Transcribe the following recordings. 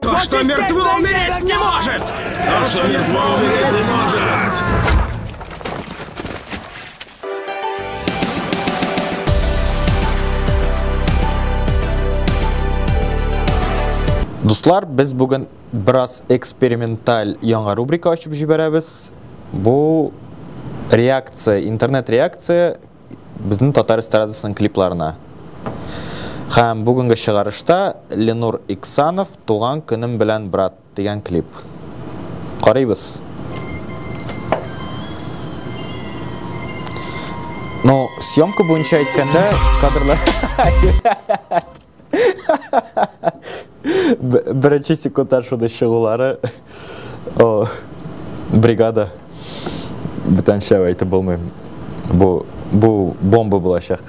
То, что мертво, умереть не может! То, что мертво, умереть не может! Дуслар, без бүген бераз эксперименталь яңа рубрика ачып җибәрәбез. Бу реакция, интернет реакция безнең татар эстрадасының клипларына. Һәм бүгенге чыгарышта Ленур Иксанов Туган көнем белән брат дигән клип. Карыйбыз. Ну, съемка буенча әйткәндә, кадрлар Беренче секундтан шуны чыгулары о бригада бүтәнчә әйтеп булмый. Бу бу бомба булачак.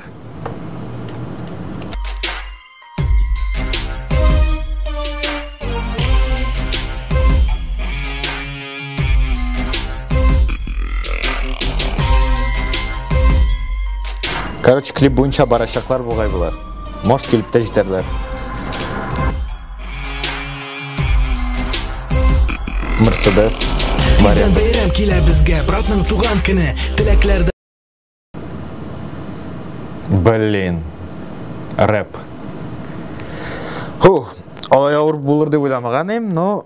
Короче, клип буенча барачаклар бугай булар. Может килеп тә җитәрләр. Мерседес. Мария. Бәйрәм килә безгә, братның туган көне. Теләкләр Блин. Рэп. Хух, алай авыр булыр дип уйламаган но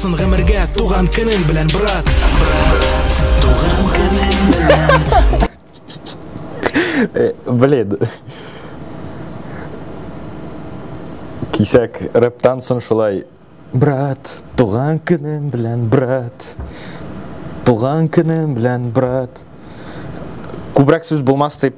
Сын гомергә туган көнең белән, брат! Брат, туган көнең белән! Блин. Кисәк рэптан соң шулай. Брат, туган көнең белән, брат! Туган көнең белән, брат! Күбрәк сүз булмас дип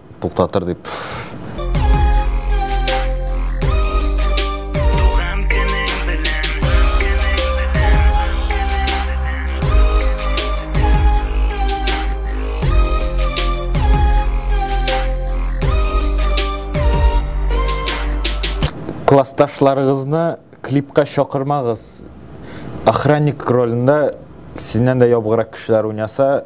Туктатыр дип. Классташларыгызны клипка чакырмагыз. Охранник ролендә синнән дә ябгырак кешеләр уйнаса,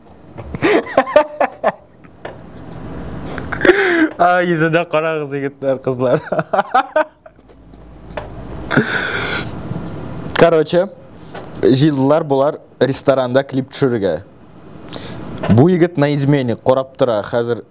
Ай, йөзенә карагыз, егетләр, кызлар. Короче, җыелдылар болар ресторанда клип төшерергә. Бу егет на измене карап тора, хәзер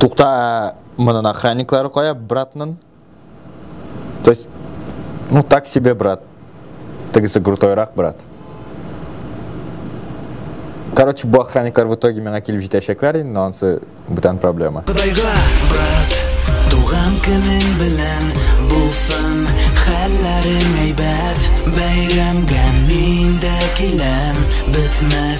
Тукта, ә монын охранниклары кая, братнын? То есть, ну так себе брат. Тегесе крутойрак брат. Короче, бу охранниклар в итоге миңа килеп җитәчәкләр инде, но ансы бүтән проблема. Кудайга, брат, туган көнең белән булсын, хәлләрең әйбәт, бәйрәмгә мин дә киләм, бетмәс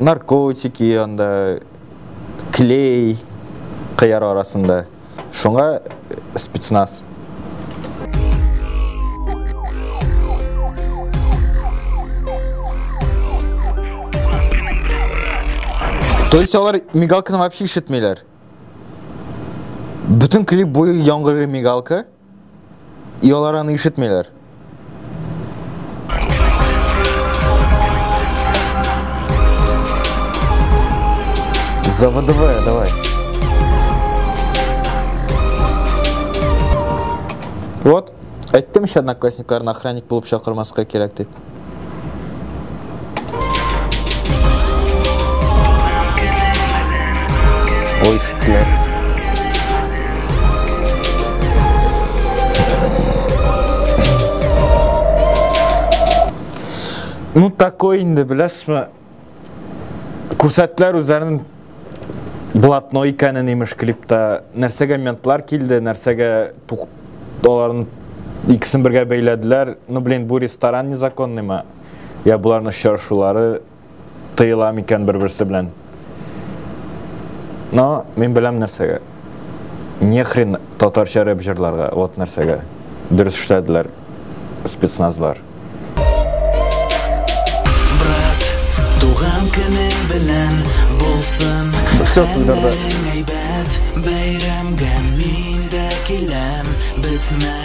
наркотики анда клей кыяр арасында шуңа спецназ То есть алар мигалканы вообще ишетмиләр. Бүтән клип буе яңгырый мигалка. И алар аны ишетмиләр. Заводовая, давай. Вот. Әйттем еще одноклассникларына охранник булып чакырмаска кирәк дип. Oyster. Ну, такой инде, беләсме? Күрсәттеләр үзләрен блатно икәнен имеш клипта. Нәрсәгә ментлар килде, нәрсәгә тук... аларын икесен бергә бәйләделәр. Ну, блин, бу ресторан незаконный ма? Я буларны очрашулары тыела микән бер-берсе белән? Но, мин беләм нәрсәгә. Нехрен татарча рэп җырларга, вот нәрсәгә. Дөрес эшләделәр спецназлар. Брат, туган көне белән булсын. Все туйдырды. Бәйрәмгә мин дә киләм, бетмә.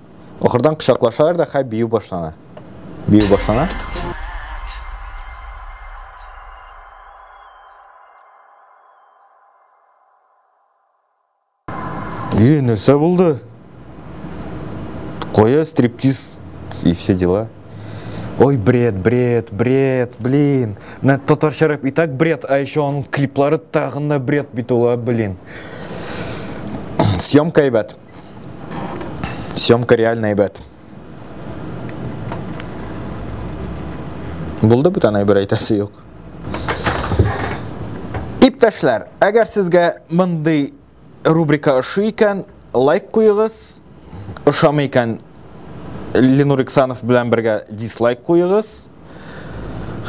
Ахырдан кочаклашалар да хә бию башлана. Бию башлана. Е, нәрсә булды? Кая стриптиз и все дела. Ой, бред, бред, бред, блин. На татарча рэп и так бред, а еще он клиплары тагында бред бит ул, блин. Съемка, ребят. Съемка реально әйбәт. Булды бүтән әйбер әйтәсе юк. Иптәшләр, әгәр сезгә мондый рубрика ошый икән, лайк куегыз. Ошамый икән, Ленур Иксанов белән бергә дизлайк куегыз.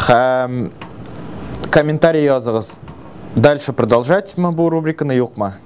Һәм комментарий языгыз. Дальше продолжать мы бу рубриканы юкмы?